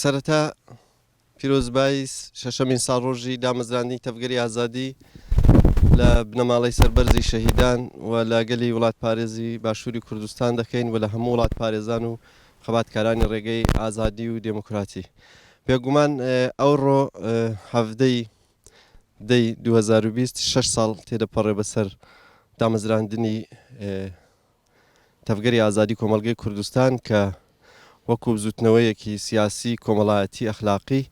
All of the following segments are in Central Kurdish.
سەرەتا پیرۆزبای شەشەمین ساڵڕۆژی دامەزراندنی تەڤگەری ئازادی لە بنەماڵەی سەربەرزی شەهیدان و لە گەلی وڵات پارێزی باشووری کوردستان دەکەین و لە هەموو وڵات پارێزان و خەباتکارانی ڕێگەی ئازادی و دێموکراتی بێگومان ئەوڕۆ هەفتەی دەی 2026 ساڵ تێدەپەڕێ بەسەر دامەزراندنی تەڤگەری ئازادی کۆمەڵگەی کوردستان کە وەکو بزوتنەوەیەکی سیاسی کۆمەڵایەتی ئەخلاقی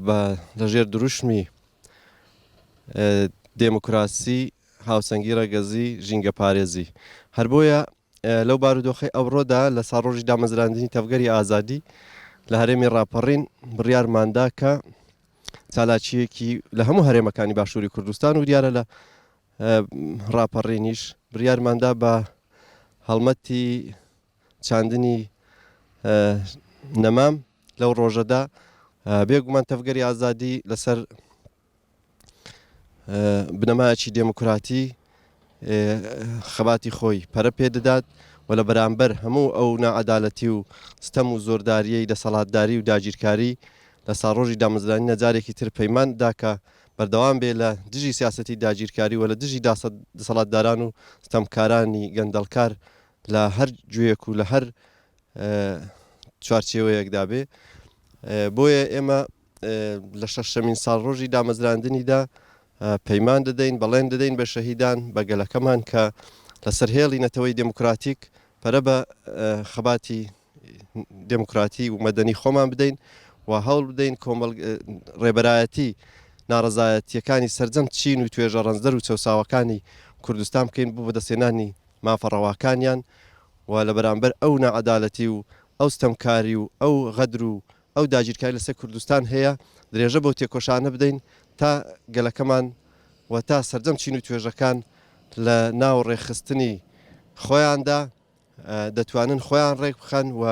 بە لەژێر دروشمی دێموکراسی هاوسەنگی ڕەگەزی ژینگە پارێزی هەر بۆیە لەو بارودۆخی ئەوڕۆدا لە ساڕۆژی دامەزراندنی تەڤگەری ئازادی لە هەرێمی ڕاپەڕین بڕیارماندا کە چالاکیەکی لە هەموو هەرێمەکانی باشووری کوردستان و دیارە لە ڕاپەڕینیش بڕیارماندا بە هەڵمەتی چاندنی نەمام لەو ڕۆژەدا بێگومان تەفگەری ئازادی لەسەر بنەمایەکی دێموکراتی خەباتی خۆی پەرە پێ دەدات و لە بەرامبەر هەموو ئەو نەعادالەتی و ستەم و زۆرداریەی دەسەڵاتداری و داگیرکاری لە ساڕۆژی دامەزرانی نەجارێکی تر پەیمان داکە بەردەوام بێ لە دژی سیاسەتی داگیرکاری و لە دژی دەسەڵاتداران و ستەمکارانی گەندەڵکار لە هەر گوێیەک و لە هەر چوارچێوەیەکدا بێ بۆیە ئێمە لە شەشەمین ساڵڕۆژی دامەزراندنیدا پەیمان دەدەین بەڵێن دەدەین بە شەهیدان بە گەلەکەمان کە لەسەر هێڵی نەتەوەی دموکراتیک پەرە بە خەباتی دێموکراتی و مەدەنی خۆمان بدەین و هەوڵ بدەین کۆمەڵ ڕێبەرایەتی ناڕزایەتیەکانی سرجەم چین و توێژە ڕەنجدەر و چەساوەکانی کوردستان بکەین بۆ بەدەستێنانی مافەڕەواکانیان و لە بەرامبەر ئەو نەعەدالەتی و ئەو ستەمکاری و ئەو غەدر و ئەو داگیرکاری لەسەر کوردستان هەیە درێژە بۆ تێکۆشانە بدەین تا گەلەکەمان و تا سرجەم چین و توێژەکان لە ناو ڕێخستنی خۆیاندا دەتوانن خۆیان ڕێک بخەن و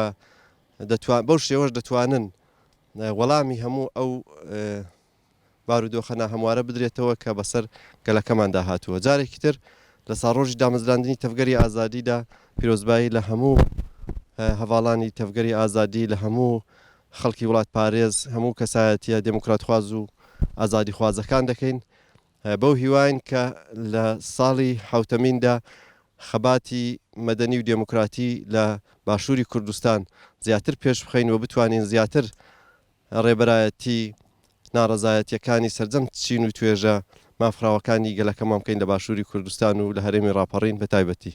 بەو شێوەش دەتوانن وەڵامی هەموو ئەو بارودۆخە ناهەموارە بدرێتەوە کە بەسەر گەلەکەماندا هاتووە جارێکی تر لە ساڕۆژی دامەزراندنی تەفگەری ئازادیدا پیرۆزبایی لە هەموو هەواڵانی تەفگەری ئازادی لە هەموو خەڵکی وڵات پارێز هەموو کەسایەتە دموکراتخواز و ئازادی خوازەکان دەکەین بەو هیواین کە لە ساڵی حەوتەمیندا خەباتی مەدەنی و دێموکراتی لە باشووری کوردستان زیاتر پێش بخەین و بتوانین زیاتر ڕێبەرایەتی ناڕەزایەتیەکانی سەرجەم چین و توێژە مافخراوەکانی گەلەکەمان بکەین لە باشووری کوردستان و لە هەرێمی ڕاپەڕین بە تایبەتی.